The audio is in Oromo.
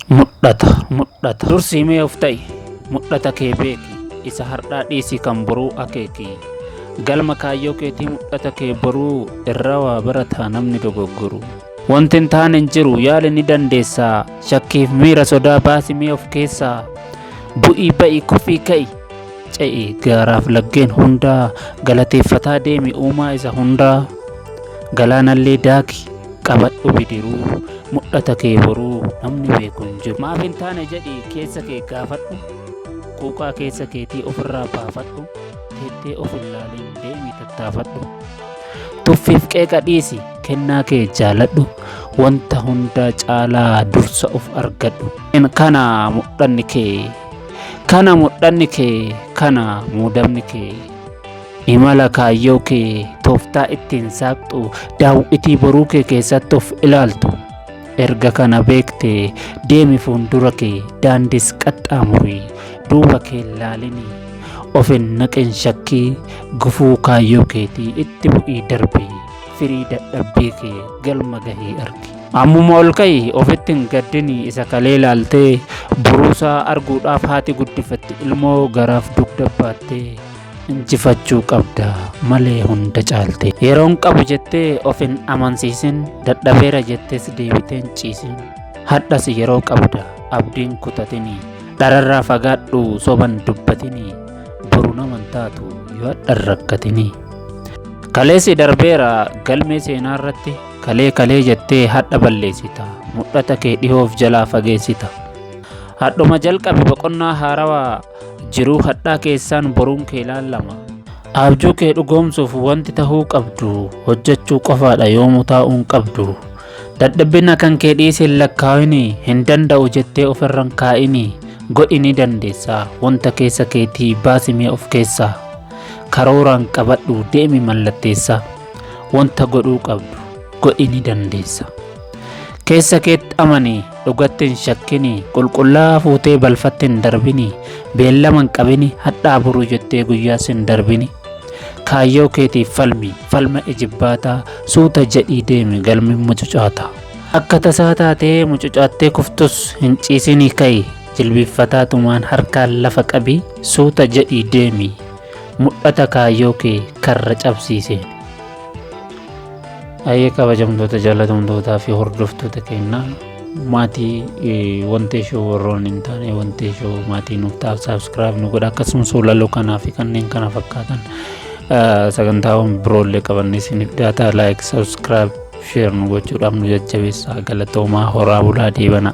Mudhata, mudhata. Dursii mee of ta'i. Mudhata kee beeki. Isa har'aa dhiisii kan boruu akeeki. Galma kaayyoo keetii mudhata kee boruu irraa waa barataa namni dogoggoru. Wanti hin taane hin jiru yaali ni dandeessa. Shakkiif miira sodaa baasi mee of keessaa. Bu'ii ba'i kufii ka'i. ce'i gaaraaf laggeen hundaa galateeffataa deemi uumaa isa hundaa galaanallee daaki qabadhu bidiruu mul'ata kee boruu namni beeku hin jiru maaf hin taane jedhi keessa kee gaafadhu quuqaa keessa keetii ofirraa baafadhu teettee of hin laaliin deemi tattaafadhu tuffiif qeeqa dhiisi kennaa kee jaaladhu wanta hundaa caalaa dursa of argadhu kana mul'anni kee Kana mudhanni kee kana muudamni kee. Imala kaayyoo kee tooftaa ittiin saaqxu daawwitii boruu kee keessatti of ilaaltu. Erga kana beekte deemi fuuldura kee daandis qaxxaamuri duuba kee laalini. Of hin naqin shakkii gufuu kaayyoo keetii itti bu'ii darbi. firii dadhabbii kee galma gahii argi. Ammuma ol ka'i ofitti hin gaddini isa kalee laaltee buruusaa arguudhaaf haati guddifatte ilmoo garaaf dugda baattee injifachuu qabda malee hunda caalte yeroon qabu jettee of hin amansiisin dadhabeera jettees deebiteen ciisin hadhas yeroo qabda abdiin kutatini dhararraa fagaadhu soban dubbatini boru naman taatu yoo hadhan rakkatini. Kaleessi darbeera galmee seenaa irratti kalee kalee jettee hadha balleessita mudhata kee dhihoof jalaa fageessita. Hadhuma jalqabe boqonnaa haarawaa jiruu hadhaa keessaan boruun kee laallama. Abjuu kee dhugoomsuuf wanti tahuu qabdu hojjechuu qofaadha yoomuu taa'uun qabdu. Dadhabbina kan kee dhiisi hin lakkaa'ini, hin danda'u jettee ofirra hin kaa'ini. Godhi ni dandeessa, wanta keessa keetii baasi mee of keessaa. Karooraan qabadhu deemi mallatteessa, wanta godhuu qabdu godhi ni dandeessa. Keessa keetti amani, dhugatti hin shakkini, qulqullaa'aa fuutee balfatti hin darbini, beellama hin qabini, hadhaa boruu jettee guyyaas hin darbini. Kaayyoo keetiif falmi, falma ijibbaataa, suuta jedhii deemi galmi mucucaataa. Akka tasaa taatee mucucaattee kuftus hin ciisinii ka'i, jilbiiffataa tumaan harkaan lafa qabi, suuta jedhii deemi. Mudhata kaayyoo kee karra cabsii seeni. Ayyee kabajamtoota jaalatamtootaa fi hordoftoota keenyaa. maatii wantee shoo warroon hin taane wantee shoo maatii nuuf taaf saabskiraayib nu godha akkasumas walaloo kanaa fi kanneen kana fakkaatan sagantaawwan biroollee qabannee isiniif dhiyaata laayik saabskiraayib sheer nu gochuudhaaf nu jajjabeessaa galatoomaa horaa bulaa deebanaa.